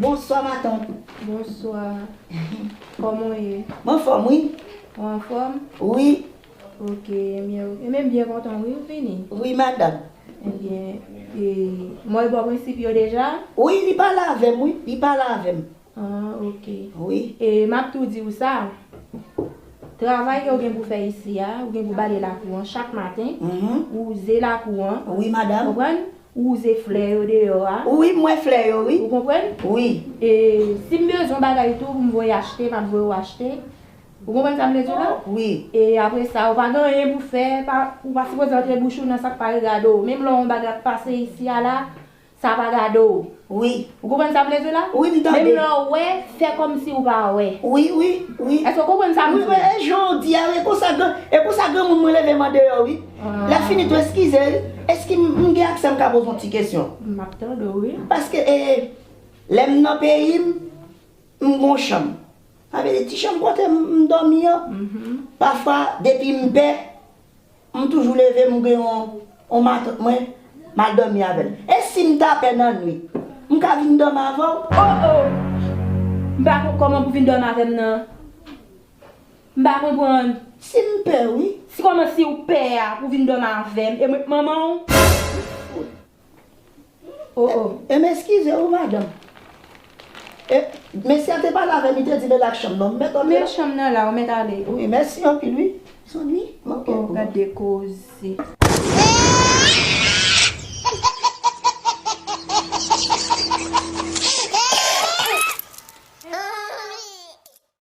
Bonswa matant. Bonswa. Koman w ye? Mwen anfòm wi. Ou anfòm? Wi. Ok. Enbyen ou Enbyen m byen kontan wi ou vini. Wi madanm. Enbyen e Mwen bò prensip yo deja? Wi li pale avè m wi. Li pale avè m. Ah ok. Oui. E map tou diw sa, travay ke ou gen pou fè isi a, ou gen pou bale lakou an chak maten, wouze lakou an. Oui madame. Ou konprann? Wouze flè yo deyò a. Oui m wè flè yo oui. Ou konprann? Oui. E sim bezwen bagay tou poum voye achte map voye ou achte. Ou konprann sa m vle diw la? Oui. E apre sa ou pa gen anyen pou fè, ou pa sipoze antre bouch ou nan sak pa regade w. Menm lè yon bagay ap pase isi a la, Sa pa gade w. Wi. Ou konprann sa m vle di w la? Wi, m tande. Menm lè w wè, fè kòmsi w pa wè. Wi, wi, wi. Èske w konprann sa m di w la? Wi, e jan w di a, e konsa gran, e konsa granmoun mwen leve m andeyò wi. Lè m fini tou eskize wi. Eski m, m gen aksè m ka poze yon ti kesyon? M ap tande w wi. Paske e, lè m nan peyi m, m gen yon chanm. Sa vle di ti chanm kote m dòmi an. Pafwa depi m pè, M toujou leve m gen on matant mwen m al domi avè l. E si m ta pè nan nwit m ka vin domi avè w? Oh oh! M pa kon koman pou vin domi avè m nan. M pa konprann. Si m pè wi? Si koman si w pè a pou vin domi avè m e mwen k manman w? Oh oh e m eskize ou madanm. E mesye a te pale avè m li te di m e lak chanm nan m mèt antre la. Met chanm nan la ou mèt ale. Wi mèsi anpil wi. Sonyi ok. Oh oh gad de koze.